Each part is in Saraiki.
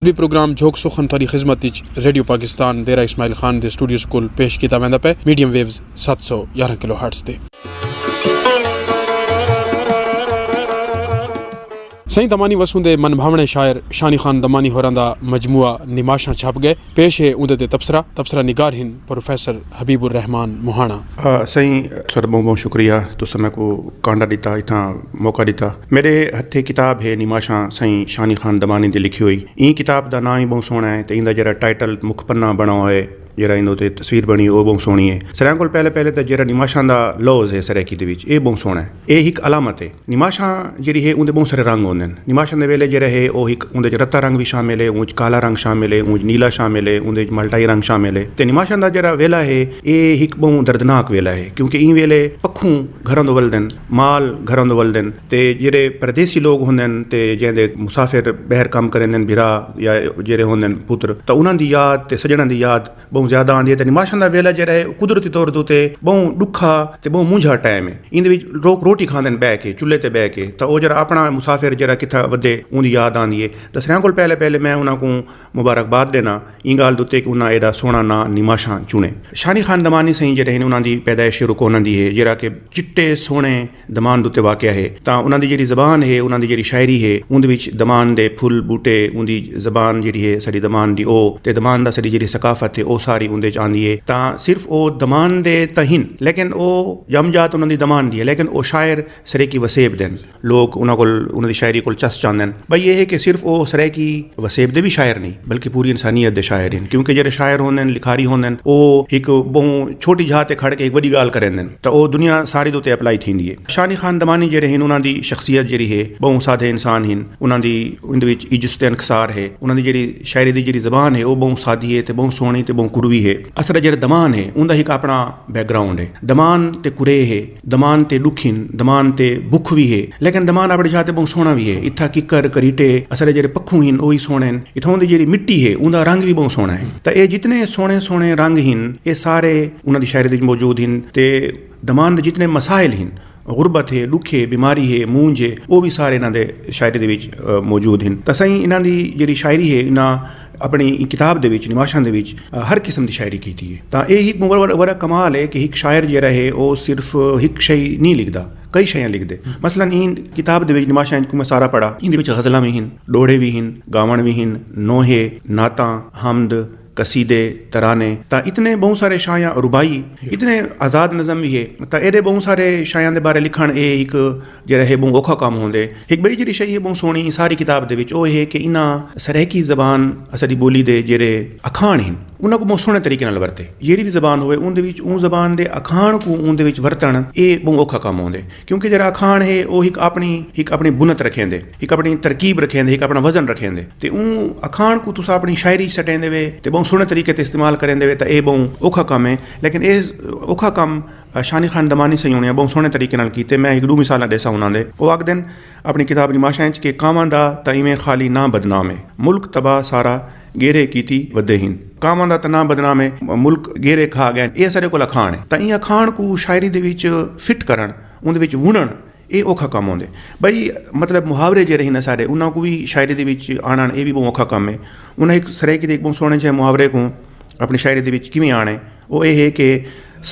وی پروگرام جھوک سخن تہاݙی خدمت اچ ریڈیو پاکستان دیرہ اسماعیل خان دے سٹوڈیوز کول پیش کیتا ویندا پئے میڈیم ویوز ست سو یارہاں کلو ہرٹز تے۔ سئیں دمانی وسوں دے من بھاوݨے شاعر شانی خان دمانی ہوراں دا مجموعہ نماشاں چھپ ڳئے پیش ہے اوندے تے تبصرہ تبصرہ نگار ہن پروفیسر حبیب الرحمان مہاݨا۔ سئیں ساݙا ٻہوں ٻہوں شکریہ تساں میکوں کانڈا ݙتا اتھاں موقع ݙتا۔ میݙے ہتھیں کتاب ہے نیماشاں سئیں شانی خان دمانی دی لکھی ہوئی۔ ایں کتاب دا ناں وی ٻہوں سوہݨا ہے تے ایندا جیرھا ٹائٹل مکھ پنہ بݨا ہویا ہے جیرھا ایندے اتے تصویر بݨی ہے او ٻہوں سوہݨی ہے۔ سریاں کول پہلے پہلے تاں جیرھا نیماشاں دا لوظ ہے سرائیکی دے وچ اے ٻہوں سوہݨا ہے۔ ایہ ہک علامت ہے۔ نماشاں جیڑھی ہے اوندے بہوں سارے رنگ ہوندن۔ نماشاں دے ویلے جیڑھا ہے او ہک اوندے وچ رتا رنگ وی شامل ہے، اوں وچ کالا رنگ شامل ہے، اوں وچ نیلا شامل ہے، اوندے وچ مالٹائی رنگ شامل ہے تے نماشاں دا جیڑھا ویلا ہے ایہ ہک بہوں دردناک ویلا ہے کیونکہ ایں ویلے پکھوں گھراں توں ولدن، مال گھراں توں ولدن تے جیڑھے پردیسی لوگ ہوندن تے جیندے مسافر بہر کم کریندن بھرا یا جیڑھے ہوندن پتر تاں انہاں دی یاد تے سجنڑاں دی یاد ٻہوں زیادہ آندی ہے تے نماشاں دا ویلھا جیڑھا ہے او قدرتی طور دے اتے ٻہوں ݙکھا تے ٻہوں مونجھا ٹائم ہے۔ ایندے وچ لوک روٹی کھاندن ٻہہ کے، چلھے تے ٻہہ کے تاں او جیڑھا اپݨا مسافر جیڑھا کتھاں ودھے اوندی یاد آندی ہے تاں سریاں کول پہلے پہلے میں انہاں کوں مبارک باد ݙینا ایں ڳالھ دے اتے کہ انہاں ایݙا سوہݨا ناں نماشاں چݨے۔ شانی خان دمانی سئیں جیڑھے ہن انہاں دی پیدائش شروع کونہاں دی ہے جیڑھا کہ چٹے سوہݨے دمان دے اتے واقع ہے تاں انہاں دی جیڑھی زبان ہے انہاں دی جیڑھی شاعری ہے اوندے وچ دمان دے پھل بوٹے اوندی زبان جیڑھی ہے ساڈی دمان دی او تے دمان دا ساڈی جیڑھی ثقافت ہے او ساری اوندے وچ آندی ہے تاں صرف او دمان دے تاں ہن لیکن او ڄم جات انہاں دی دمان دی ہے لیکن او شاعر سرائیکی وسیب دے ہن لوک انہاں کول انہاں دی شاعری کول چس چاندن بھئی ایہ ہے کہ صرف او سرائیکی وسیب دے وی شاعر نی بلکہ پوری انسانیت دے شاعر ہن کیونکہ جیڑھے شاعر ہوندن لکھاری ہوندن او ہک ٻہوں چھوٹی جھا تے کھڑ کے ہک وݙی ڳالھ کریندن۔ تاں او دنیا ساری دے اتے اپلائی تھیندی ہے۔ شانی خاندمانی جیڑھے ہن انہاں دی شخصیت جیڑھی ہے بہوں سادھے انسان ہن۔ انہاں دی ایندے وچ عجز تے انکسار ہے۔ انہاں دی جیڑھی شاعری دی جیڑھی زبان ہے او بہوں سادھی ہے تے بہوں سوہنڑی تے بہوں کروی ہے۔ اسرا جیڑھا دمان ہے اوندا ہک اپنا بیک گراؤنڈ ہے۔ دمان تے کریہ ہے۔ دمان تے ڈکھ ہن۔ دمان تے بکھ وی ہے۔ لیکن دمان اپنی جاہ تے بہوں سوہنڑا وی ہے۔ اتھاں ککر، کریٹے، اسرا جیڑھے پکھوں ہن او وی سوہنڑے ہن۔ اتھاں دی جیڑھی مٹی ہے اوندا رنگ وی بہوں سوہنڑا ہے۔ تاں اے جتنے سوہنڑے سوہنڑے رنگ ہن اے سارے۔ انہاں دی شاعری دے وچ موجود ہن تے دمان دے جتنے مسائل ہن، غربت ہے، ڈکھ ہے، بیماری ہے، مونجھ ہے، او وی سارے انہاں دے شاعری دے وچ موجود ہن تاں سائیں انہاں دی جیڑھی شاعری ہے انہاں اپنی ایں کتاب دے وچ نماشاں دے وچ ہر قسم دی شاعری کیتی ہے تاں ایہ ہک وڈا کمال ہے کہ ہک شاعر جیڑھا ہے او صرف ہک شئے نی لکھدا کئی شیاں لکھدے مثلا ایں کتاب دے وچ نماشاں کوں میں سارا پڑھا ایندے وچ غزلاں وی ہن، ڈوہڑے وی ہن، گاوݨ وی ہن، نوحے، نعتاں، حمد، قصیدے، ترانے تاں اتنے ٻہوں سارے شاعیاں رباعی اتنے آزاد نظم وی ہے تاں ایݙے ٻہوں سارے شاعیاں دے بارے لکھݨ اے ہک جیڑھا ہے ٻہوں اوکھا کم ہوندے۔ ہک ٻئی جیڑھی شئ ہے ٻہوں سوہݨی ساری کتاب دے وچ او ہے کہ انہاں سرائیکی زبان اساݙی ٻولی دے جیڑھے اکھاݨ ہن انہاں کوں ٻہوں سوہݨے طریقے نال ورتے۔ جیڑھی وی زبان ہووے اوندے وچ اوں زبان دے اکھاݨ کوں اوندے وچ ورتݨ اے ٻہوں اوکھا کم ہوندے۔ کیونکہ جیہڑا اکھاݨ ہے او ہک اپݨی ہک اپݨی بنت رکھیندے، ہک اپݨی ترکیب رکھیندے، ہک اپݨا وزن رکھیندے تے اوں اکھاݨ کوں تساں اپݨی شاعری اچ سٹیندے وے تے ٻہوں سوہݨے طریقے تے استعمال کریندے وے تاں ایہ ٻہوں اوکھا کم ہے لیکن ایہ اوکھا کم شانی خان دمانی سئیں ہوݨیں ٻہوں سوہݨے طریقے نال کیتے میں ہک ݙو مثالاں ݙیساں انہاں دے او آکھدن اپݨی کتاب نماشاں اچ کہ کانواں دا تاں ایویں خالی ناں بدنام اے ملک تباہ سارا گیرے کیتی ودے ہن۔ کانواں دا تاں ناں بدنام اے ملک گیرے کھا ڳئن اے اساݙے کول اکھاݨ اے تاں ایں اکھاݨ کوں شاعری دے وچ فٹ کرݨ اوندے وچ وݨݨ اے اوکھا کم ہوندے بھئی مطلب محاورے جیڑھے ہن اساݙے انہاں کوں وی شاعری دے وچ آݨݨ اے وی ٻہوں اوکھا کم اے انہاں ہک سرائیکی دے ہک ٻہوں سوہݨے جیہے محاورے کوں اپݨی شاعری دے وچ کیویں آݨے او اے ہے کہ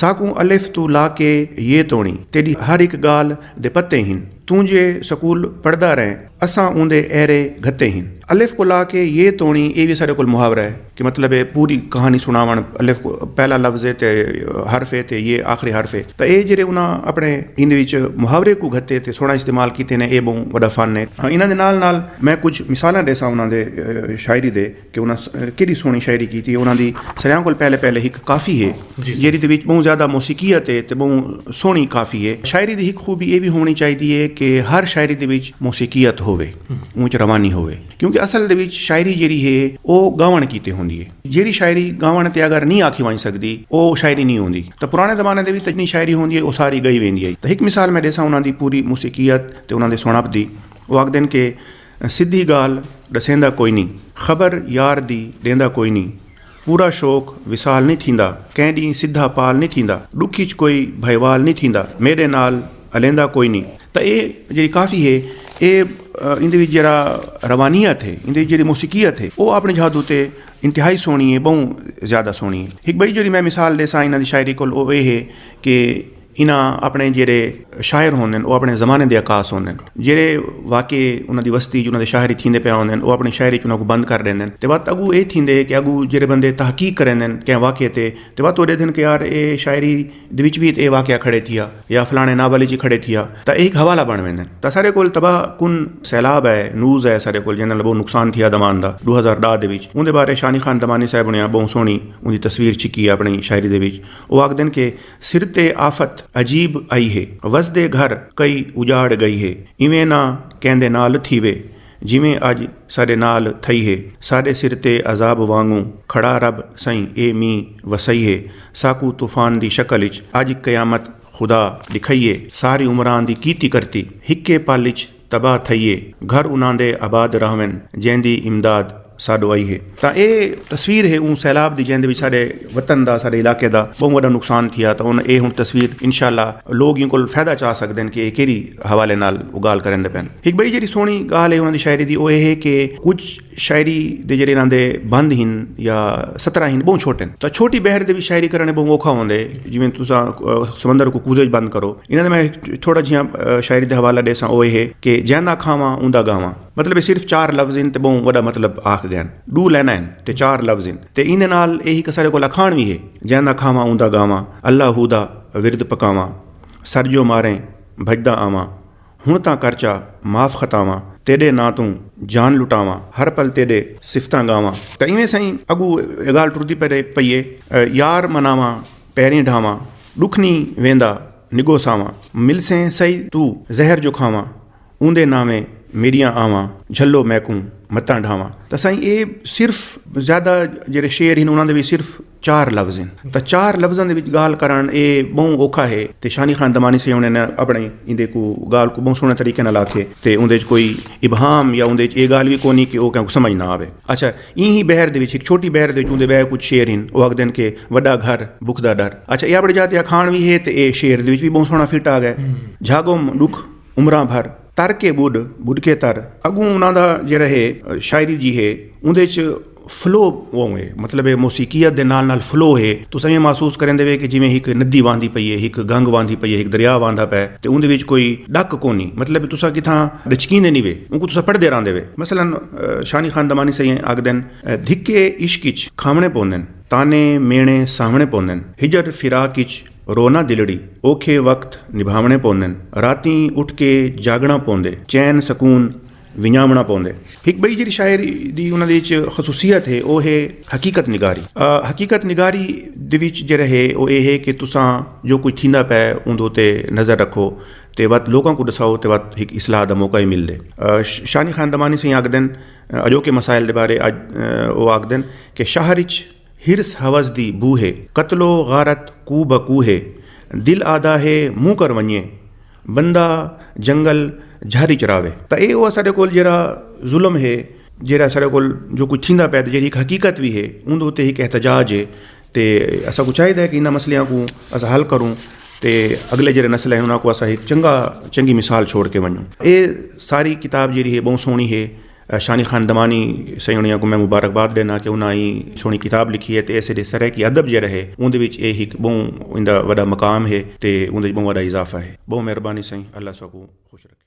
ساکوں الف توں لا کے ی توڑیں تیݙی ہر ہک ڳالھ دے پتے ہن توں جے سکول پڑھدا رہیں اساں اوندے ایرے گھتے ہن الف کوں لا کے ی توڑیں اے وی اساݙے کول محاورہ ہے کہ مطلب اے پوری کہاݨی سݨاوݨ الف پہلا لفظ ہے تے حرف ہے تے ی آخری حرف ہے تاں اے جیڑھے انہاں اپݨے ایندے وچ محاورے کوں گھتے تے سوہݨا استعمال کیتے نے اے ٻہوں وݙا فن ہے انہاں دے نال نال میں کجھ مثالاں ݙیساں انہاں دے شاعری دے کہ انہاں کیݙی سوہݨی شاعری کیتی انہاں دی سریاں کول پہلے پہلے ہک کافی ہے جیڑھی دے وچ ٻہوں زیادہ موسیقیت ہے تے ٻہوں سوہݨی کافی ہے شاعری دی ہک خوبی ایہ وی ہووݨی چاہیدی ہے کہ ہر شاعری دے وچ موسیقیت ہووے اوں وچ روانی ہووے کیونکہ اصل دے وچ شاعری جیڑھی ہے او ڳاوݨ کیتے ہوندی ہے جیڑھی شاعری ڳاوݨ تے اگر نی آکھی ونڄ سڳدی او شاعری نی ہوندی تاں پراݨے زمانے دے وچ جتنی شاعری ہوندی ہے او ساری ڳئی ویندی ہے تاں ہک مثال میں ݙیساں انہاں دی پوری موسیقیت تے انہاں دے سوہݨپ دی او آکھدن کہ سدھی ڳالھ ݙسیندا کوئنی خبر یار دی ݙیندا کوئنی پورا شوق وصال نی تھیندا کئیں ݙینہہ سدھا پال نی تھیندا ݙکھ اچ کوئی بھائیوال نی تھیندا میݙے نال الیندا کوئنی۔ تاں ایہ جیڑھی کافی ہے ایہ ایندے وچ جیڑھا روانیت ہے ایندے وچ جیڑھی موسیقیت ہے او آپݨے جھادو تے انتہائی سوہݨی ہے ٻہوں زیادہ سوہݨی ہے ہک ٻئی جیڑھی میں مثال ݙیساں انہاں دی شاعری کول او ایہ ہے کہ انہاں اپݨے جیرھے شاعر ہوندن او اپݨے زمانے دے عکاس ہوندن جیرھے واقعے انہاں دی وستی اچ انہاں دے شاعر اچ تھیندے پئے ہوندن او اپݨی شاعری اچ انہاں کوں بند کر ݙیندن تے وت اڳوں اے تھیندے کہ اڳوں جیرھے بندے تحقیق کریندن کہیں واقعے تے تے وت او ݙیدھن کہ یار اے شاعری دے وچ وی تے اے واقعہ کھڑے تھیا یا فلاݨے ناول اچ کھڑے تھیا تاں اے ہک حوالہ بݨ ویندن تاں ساݙے کول تباہ کن سیلاب آئے نوز آئے ساݙے کول جیندے نال ٻہوں نقصان تھیا دمان دا ݙو ہزار ݙاہ دے وچ اوندے بارے شانی خان دمانی صاحب ہوݨیاں ٻہوں سوہݨی اوندی تصویر چھکی اپݨی شاعری دے وچ او آکھدن کہ سر تے آفت عجیب آئی ہے۔ وسدے گھر کئی اجاڑ گئی ہے۔ ایویں نہ کیندے نال تھیوے۔ جیویں اج ساڈے نال تھئی ہے۔ ساڈے سر تے عذاب وانگوں کھڑا رب سئیں اے مینہ وسائی ہے۔ ساکوں طوفان دی شکل اچ اج قیامت خدا ڈکھائی ہے۔ ساری عمراں دی کیتی کرتی ہکے پل اچ تباہ تھئیے گھر انہاں دے آباد رہون جیندی امداد ساڈو آئی ہے تاں اے تصویر ہے اوں سیلاب دی جیندے وچ ساڈے وطن دا ساڈے علاقے دا بہوں وڈا نقصان تھیا تاں اے ہن تصویر انشاءاللہ لوگ ایں کول فیدہ چا سکدن کہ اے کیرھی حوالے نال گالھ کریندے پن ہک بئی جیرھی سوہنی گالھ ہے انہاں دی شاعری دی او اے ہے کہ کچھ شاعری دے جڑے انہاں دے بند ہن یا سترا ہن بہوں چھوٹے ہیں تو چھوٹی بحر دے بھی شاعری کرنے بہوں اوکھا ہوندے ہیں جویں تساں سمندر کو کوزے بند کرو انہاں دے میں تھوڑا جیاں شاعری دے حوالہ دے ساں اوہ ہے کہ جیندہ کھاواں اوندہ گاواں مطلب صرف چار لفظ ہیں تے بہوں وڈا مطلب آکھ گئے ہیں دو لینا ہیں تے چار لفظ ہیں تے ایندے نال ایہی کسارے کو لکھان بھی ہے جیندہ کھاواں اوندہ گاواں اللہ ہو دا ورد پکاواں سر جو ماریں بھجدہ آواں ہݨ تاں کر چا معاف خطاواں تیݙے ناں توں جان لٹاواں ہر پل تیݙے صفتاں ڳاواں تاں ایویں سئیں اڳوں اے ڳالھ ٹردی پئی اے یار مناواں پیریں ڈھاواں ݙکھ نی ویندا نڳو ساواں ملسیں سئی توں زہر جو کھاواں اوندے ناویں میݙیاں آواں جھلو میکوں متاں ڈھاواں تاں سئیں اے صرف زیادہ جیڑھے شعر ہن انہاں دے وی صرف چار لفظ ہن تاں چار لفظاں دے وچ ڳالھ کرݨ ایہ ٻہوں اوکھا ہے تے شانی خان دمانی صاحب ہوݨیں نے اپݨیں ایندے کوں ڳالھ کوں ٻہوں سوہݨے طریقے نال آکھے تے اوندے وچ کوئی ابہام یا اوندے وچ ایہ ڳالھ وی کونی کہ او کہیں کوں سمجھ نہ آوے۔ اچھا ایں ہی بحر دے وچ ہک چھوٹی بحر دے وچ اوندے ٻئے کجھ شعر ہن او آکھدن کہ وݙا گھر بکھ دا ݙر اچھا ایہ اپݨی جاہ تے اکھاݨ وی ہے تے ایہ شعر دے وچ وی ٻہوں سوہݨا فٹ آ ڳئے جھاڳم ݙکھ عمراں بھر تر کے ٻݙ ٻݙ کے تر اڳوں انہاں دا جیڑھا ہے شاعری جی ہے اوندے وچ فلو اوہ ہے مطلب ہے موسیقیت دے نال نال فلو ہے تو سائیں محسوس کریں دے کہ جویں ہک ندی واندی پئی ہے ہک گنگ واندی پئی ہے ہک دریا واندا پے تے اوندے وچ کوئی ڈک کونی مطلب تساں کتھاں ڈچکیں دے نہیں وے اونکوں تساں پڑھدے راندے وے مثلا شانی خان دمانی سائیں آکھدن دھکے عشق اچ کھاونے پوندن طعنے میݨے سہوݨے پوندن ہجر فراق اچ رونا دلڑی اوکھے وقت نبھاوݨے پوندن راتیں اٹھ کے جاگݨا پوندے چین سکون ونڄاوݨا پوندے۔ ہک ٻئی جیڑھی شاعر دی انہاں دے وچ خصوصیت ہے او ہے حقیقت نگاری۔ حقیقت نگاری دے وچ جیڑھا ہے او ایہ ہے کہ تساں جو کجھ تھیندا پئے اوندے اتے نظر رکھو تے وت لوکاں کوں ݙساؤ تے وت ہک اصلاح دا موقع وی ملدے۔ شانی خان دمانی سئیں آکھدن اڄوکے مسائل دے بارے اڄ او آکھدن کہ شہر اچ حرص حوس دی بو ہے قتل و غارت کو بہ کو ہے دل آہدا ہے منہ کر ونڄے بندہ جنگل جھر اچ راہوے۔ تاں ایہ او اساڈے کول جیہڑا ظلم ہے جیہڑا اساڈے کول جو کجھ تھیندا پئے تے جیہڑی ہک حقیقت وی ہے اوندے اتے ہک احتجاج ہے تے اساکوں چاہیدا ہے کہ انہاں مسئلیاں کوں اساں حل کروں تے اگلے جیہڑے نسل ہے انہاں کوں اساں ہک چنگا چنگی مثال چھوڑ کے ونجوں۔ ایہ ساری کتاب جیہڑی ہے بہوں سوہنی ہے۔ شانی خان دمانی سئیونڑیاں کوں میں مبارک باد ڈینا کہ انہاں ایں سوہنڑی کتاب لکھی ہے تے ایسے ڈے سرائیکی ادب جیہڑا ہے اوندے وچ اے ہک بہوں ایندا وڈا مقام ہے تے اوندے وچ بہوں وڈا اضافہ ہے بہوں مہربانی سئیں اللہ ساکوں خوش رکھے۔